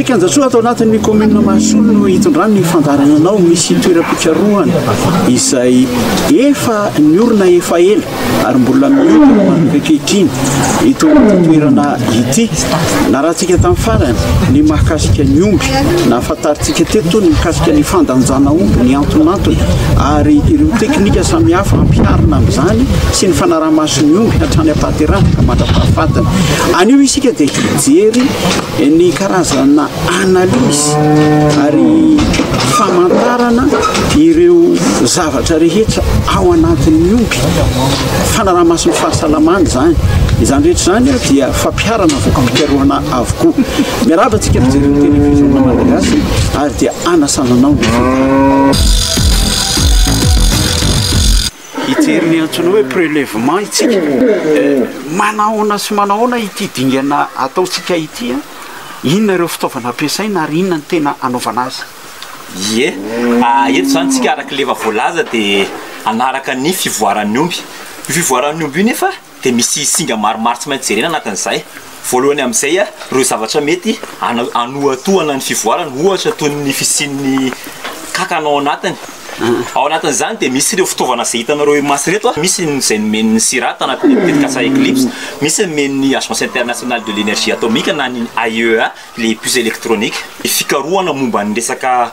Kianjasoa ato anatin'ny commune Mahasoa no hitondrany ny fandaharananao misy toeram-pikarohana izay efa niorina efa ela. ary mbola mihodina manomboka ankehitriny ity toerana ity. Narahantsika tamin'ny farany ny mahakasika ny omby, nahafantarintsika teto ny mikasika ny fandanjana omby, ny antonantony ary ireo teknika samihafa ampiharina amin'izany sy ny fanaraha-maso ny omby hatrany am-pahaterahana ka mandra-pahafatiny. Anio isika dia hijery ny karazana analyse ary famantarana ireo zavatra rehetra ao anatin'ny omby fanarahamasin'ny fahasalamana izany izany rehetra izany dia fampiharana vokampikaroana avokoa miaraba tsika mijery ny télévision malagasy ary dia anasananao ny hijery ny antsoina hoe prelèvement isika, manahoana sy manahoana ity dingana ataontsika ity, inona ireo fitaovana ampiasaina ary inona ny tena hanaovana azy. Ie, eto izany isika araka ilay efa voalaza dia hanaraka ny fivoaran'ny omby. Io fivoaran'ny omby io nefa. dia misy singa maromaro tsy maintsy jerena anatin'izay. Voalohany amin'izay ireo zavatra mety hanohatohana ny fivoarana, ohatra toy ny fisian'ny kankana ao anatiny. Ao anatin'izany dia misy ireo fitaovana izay hitanareo imaso ireto, misy izay nomen'ny CIRAD tao anatin'ny tetikasa Eclipse, misy nomen'ny Agence Internationale de l'Energie Atomique na ny AIEA, ilay puce électronique. Ny fikarohana momba ny resaka.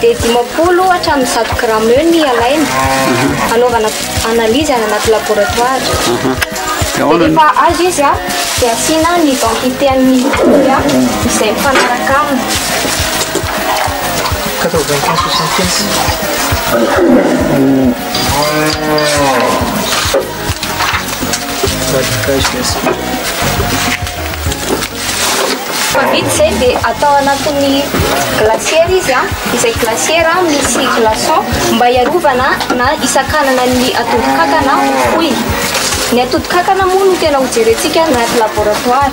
Dia dimampolo hatramin'ny zato grama eo ny alaina, hanaovana analyse any anaty laboratoire. Dia rehefa azo izy dia asiana ny identité an'ny mitory izay mifanaraka aminy. Quatre-vingt-quinze soixante-quinze. Rehefa vita izay dia atao anatin'ny glacière izy an, izay glacière misy glaçon mba hiarovana na hisakanana ny atodin-kankana ho fohy. Ny atodin-kankana moa no tena ho jerentsika any anaty laboratoire.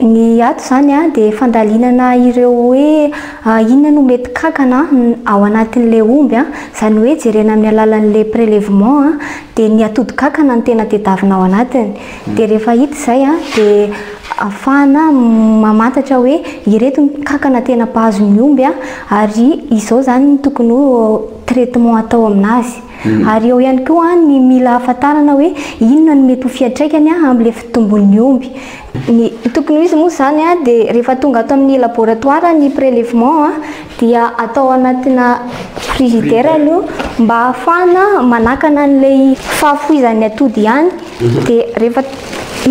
Ny ato izany dia fandalinana ireo hoe inona no mety kankana ao anatin'ilay omby, izany hoe jerena amin'ny alalan'ilay prélèvement dia ny atodin-kankana no tena tedavina ao anatiny. Dia rehefa hita izay dia afahana mamantatra hoe ireto ny kankana tena mpahazo ny omby ary izao izany no tokony ho traitement atao amin'azy. Ary eo ihany koa ny mila hahafantarana hoe inona no mety ho fiantraikany amin'ilay fitombon'ny omby. Ny tokony ho izy moa izany dia rehefa tonga ato amin'ny laboratoire ny prélèvement dia atao ao anatina frigidaire aloha mba hahafahana manakana an'ilay fahafoizan'ny atody ihany dia rehefa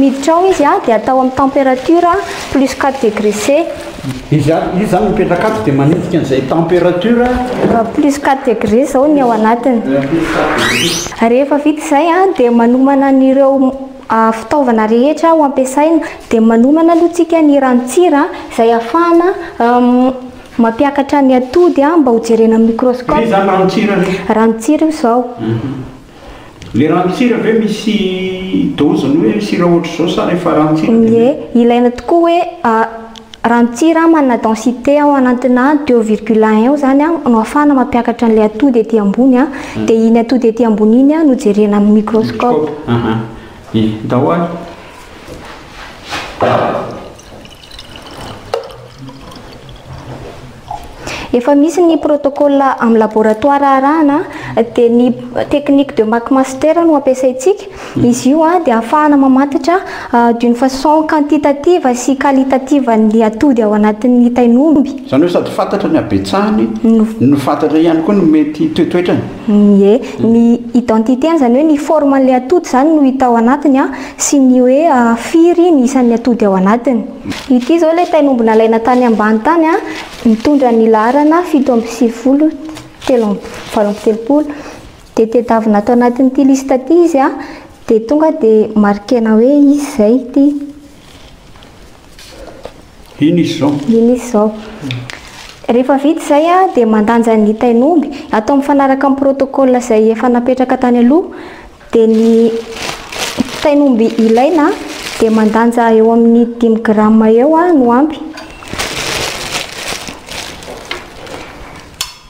miditra ao izy dia atao amin'ny température plus quatre degrés C. Izy avy, izy zany mipetraka ato dia manenjika an'izay temperature. Plus quatre degrés zao ny ao anatiny. Rehefa vita izay an, dia manomana an'ireo fitaovana rehetra ho ampiasaina. Dia manomana aloha tsika ny ranon-tsira izay ahafahana mampiakatra ny atody mba ho jerena amin'ny microscope. Iza zany ranon-tsira re? Ranon-tsira io izao. Le ranon-tsira ve misy doziny hoe sira ohatr'izao sa rehefa ranon-tsira dia Ie, mety? ilaina tokoa hoe ranon-tsira manana densité ao anantina deux virgule un eo zany no ahafahana mampiakatra an'ilay atody ety ambony a, dia iny atody ety ambony iny no jerena amin'ny microscope. Microscope, ahaa, ie, ndao ary. Efa misy ny protocole amin'ny laboratoire arahana dia ny technique de McMaster no ampiasaintsika. Hmm. Izy io ah, dia ahafahana mamantatra ah, d'une façon quantitative sy qualitative ny atody ao anatin'ny tain'omby. Izany hoe sady fantatra ny habetsahany no fantatra ihany koa ny mety toetoetrany. Ie. Ny identité-ny, izany hoe ny forme-n'ilay atody izany no hita ao anatiny sy ny hoe firy ny isan'ny atody ao anatiny. Ity izao ilay tain'omby nalaina tany ambany tany, mitondra ny laharana fito amby sivifolo, telo amby valo amby telopolo. Dia tedavina ato anatin'ity liste ity izy dia tonga dia marquer-na hoe izy izay ity. Ino izy zao? Ino izy zao? Rehefa vita izay dia mandanja ny tain'omby, atao mifanaraka amin'ny protocole izay efa napetraka tany aloha, dia ny tain'omby ilaina dia mandanja eo amin'ny dimy grammes eo no ampy.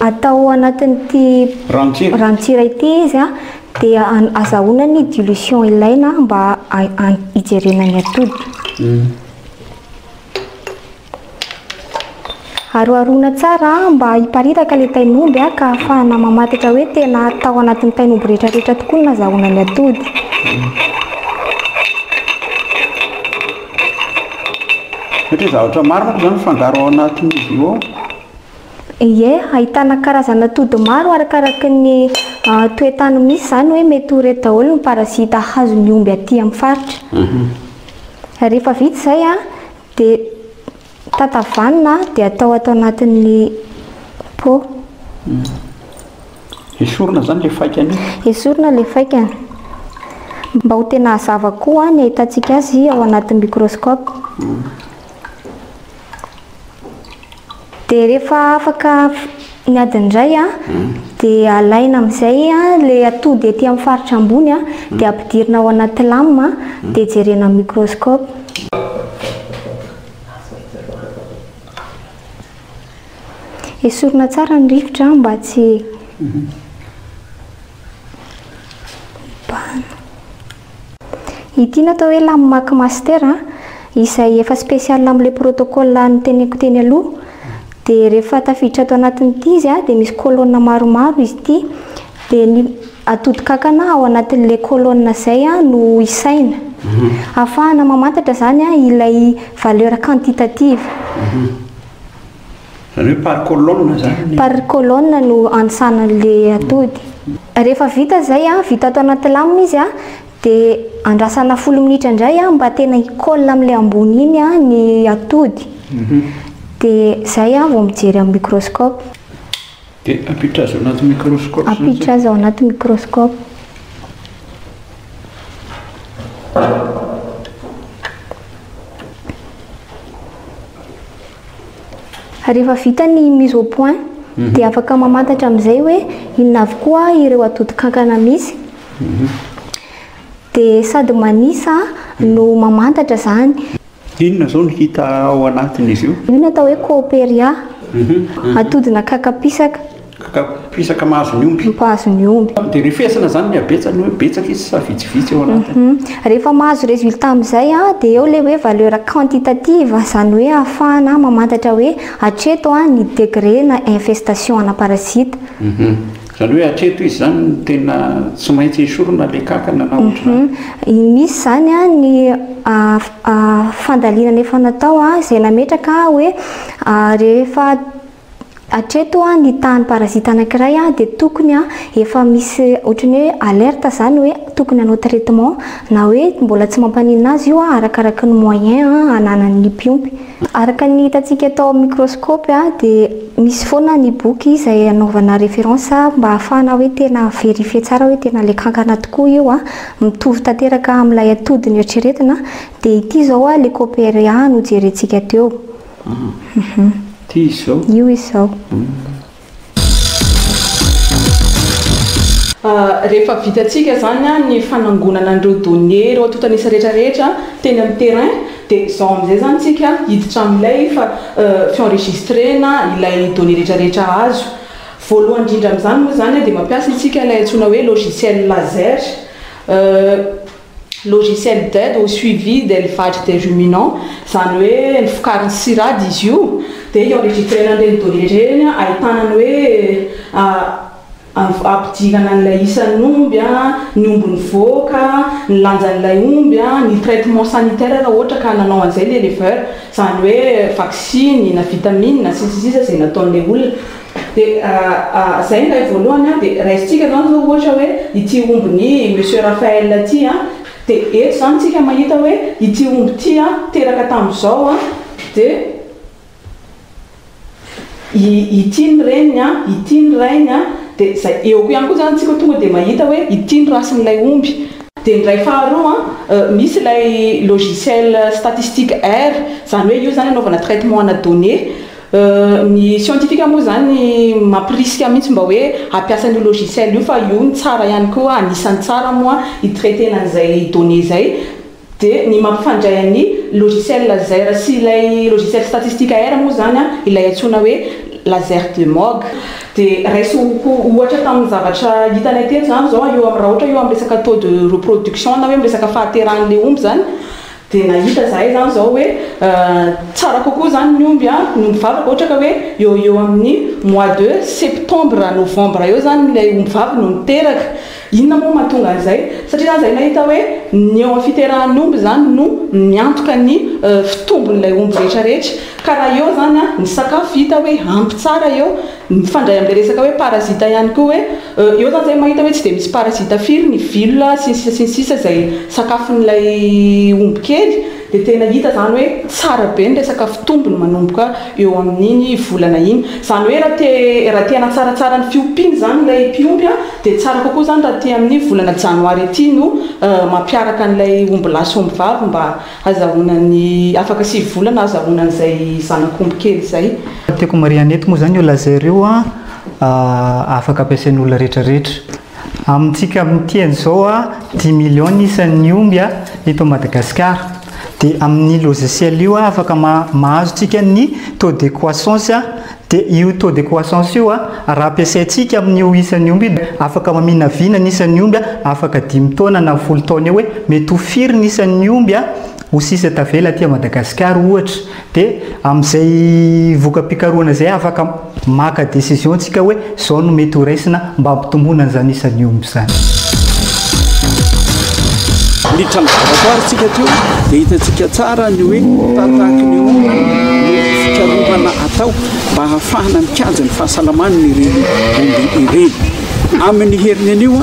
atao anatin'ity Rantsira. rantsira ity izy a, dia an- azahoana ny dilution ilaina mba ha- ha- hijerena ny atody. Aroharoana tsara mba hiparitaka ilay tain'omby a, ka ahafahana mamantatra hoe tena tao anatin'ny tain'omby rehetrarehetra tokoa ny nazahoana ny atody. Satria zavatra maro manko izany mifangaro ao anatin'izy io ao. Ie, ahitana karazana atody maro arakaraky ny toetany misy, izany hoe mety ho ireto daholo ny parazita hazo ny omby aty amin'ny faritra. Rehefa vita izay dia tatavanina dia atao ato anatin'ny pot. Esorina izany ilay faikany io? Esorina ilay faikany. Mba ho tena hazava koa ny ahitantsika azy ao anatin'ny microscope. Dia rehefa afaka ny adiny iray an, hmm. dia alaina amin'izay ilay atody ety amin'ny faritra ambony an, hmm. dia ampidirina ao anaty lame an, hmm. dia jerena amin'ny microscope. Esorina tsara ny rivotra mba tsy... Ity no atao hoe lame mac master a, izay efa spécial amin'ilay protocole noteneniko teny aloha. Dia rehefa tafiditra ato anatin'ity izy dia misy colonne maromaro izy ity. Dia ny atodin-kankana ao anatin'ilay colonne izay no isaina. Ahafahana mamantatra izany ilay valeur quantitative. Zareo par colonne zany ny. Par colonne no antsana an'le atody. Rehefa vita izay a, vita ato anaty lame izy a, de andrasana folo minitra indray a mba tena hi colle am'le ambony iny a ny atody. De zay a vao mijery am microscope. De ampiditra azy ao anaty microscope zany. Ampiditra azy ao anaty microscope. Rehefa vita ny mise au point dia afaka mamantatra amin'izay hoe inona avokoa ireo atodin-kankana misy. Dia sady manisa no mamantatra izany. Inona izao no hita ao anatin'izy io? Io no atao hoe Cooperia, atodina kakapisaka. Ka mpisaka mahazo ny omby. Mpahazo ny omby. Dia refesina izany ny habetsany hoe betsaka izy sa vitsivitsy eo anatiny. Rehefa mahazo résultat amin'izay dia eo ilay hoe valeur quantitative, izany hoe ahafahana mamantatra hoe hatreto ny degré na infestation ana parasite. Izany hoe hatreto izy izany no tena tsy maintsy esorina ilay kankana na ohatr'izany. Misy izany ny fandalinana efa natao izay nametraka hoe rehefa. Hatreto ny tahan'ny parazita anankiray dia tokony efa misy ohatran'ny hoe alerte zany hoe tokony hanao traitement na hoe mbola tsy mampaninona azy io arakaraky ny moyen ananan'ny mpiompy. Araka ny hitantsika tao amin'ny microscope dia misy foana ny boky izay anaovana référence mba hahafahana hoe tena verifier tsara hoe tena ilay kankana tokoa io, mitovy tanteraka amin'ilay atody noeritreretina dia ity izao ilay Coperia nojerentsika teo. Hum. Ty izao. Io izao. Rehefa vitantsika izany ny fanangonana an'ireo données, ireo antontan'isa rehetra rehetra teny amin'ny terrain, dia izao amin'izay izany isika hiditra amin'ilay efa fi-enregistrena ilay données rehetra rehetra azo. Voalohany indrindra amin'izany moa izany dia mampiasa isika ilay antsoina hoe logiciel laser. logiciel d'aide au suivi de l'elevage des ruminants, izany hoe ny fokariny sirade izy io, dia io enregistrena an'ireny données ireny ahitana ny hoe ampidirana an'ilay isan'ny omby, ny omby nivoaka, ny lanjan'ilay omby, ny traitement sanitaire raha ohatra ka nanao an'izay ny éleveur, izany hoe vaksiny na vitamine sy ny sisa sy ny sisa izay nataon'ilay olona. Dia izay ilay voalohany an, dia raisintsika izany izao ohatra hoe ity ombin'i Monsieur Raphaël ity an, dia eto izany isika mahita hoe ity omby ity an teraka tamin'izao an, dia ity ny reniny an, ity ny rainy an, dia izay eo koa ihany koa izany isika tonga dia mahita hoe ity ny rasin'ilay omby. Dia ny iray faharoa an, misy ilay logiciel statistique R, izany hoe io izany anaovana traitement ana données, Ny scientifique moa izany mampirisika mihitsy mba hoe hampiasa an'io logiciel io fa io no tsara ihany koa, anisan'ny tsara moa hi-traiter-na an'izay données izay. Dia ny mampifandray an'ny logiciel laser sy ilay logiciel statistique air moa izany ilay antsoina hoe laser de Moog. Dia raiso ho ohatra tamin'ny zavatra hitanay tetsy izany izao, raha ohatra hoe eo amin'ny resaka taux de reproduction na hoe amin'ny resaka fahaterahan'ilay omby izany, Dia nahita izahay izany izao hoe tsara kokoa izany ny omby an, ny omby vavaka ohatra ka hoe eo ho eo amin'ny mois de septembre, novembre eo izany ilay omby vavy no miteraka. Inona moa no mahatonga an'izay? Satria izany izahay nahita hoe ny eo amin'ny fiterahan'ny omby izany no miantoka ny fitombon'ilay omby rehetra rehetra. Ka raha eo izany an, ny sakafo hita hoe ampy tsara eo, Mifandray amin'ilay resaka hoe parasita ihany koa hoe eo zany zay mahita hoe tsy dia misy parasita firy ny villa sy ny sisa sy ny sisa izay sakafon'ilay omby kely dia tena hita zany hoe tsara be ny resaka fitombony manomboka eo amin'iny volana iny izany hoe raha te raha te hanatsaratsara ny fiompiany izany ilay mpiompy a dia tsara kokoa izany raha aty amin'ny volana janoary aty no mampiaraka an'ilay omby lahy sy omby vavy mba Azahoana ny afaka sivy volana ahazahoana an'izay zanak'omby kely izay. Tiako marihana eto moa izany io laser io afaka ampiasain'ny olona rehetra rehetra. Amintsika amin'ity an'izao dimy millions ny isan'ny omby eto Madagasikara. Dia amin'io logiciel io afaka mahazo tsika ny taux de croissance. Dia io taux de croissance io, raha ampiasaintsika amin'io isan'ny omby io, afaka maminavina ny isan'ny omby afaka dimy taona na folo taona eo hoe mety ho firy ny isan'ny omby ho sisa tavela aty Madagasikara ohatra. Dia amin'izay voka-pikarohana izay afaka maka décision tsika hoe Izao no mety ho raisina mba hampitomboana izany isan'ny omby izany. Miditra amin'ny laboratoire tsika aty io dia hitantsika tsara ny hoe tahatahaky ny omby no fikarohana atao mba hahafahana mikajy ny fahasalaman'ireny omby ireny. Amin'ny heriny anio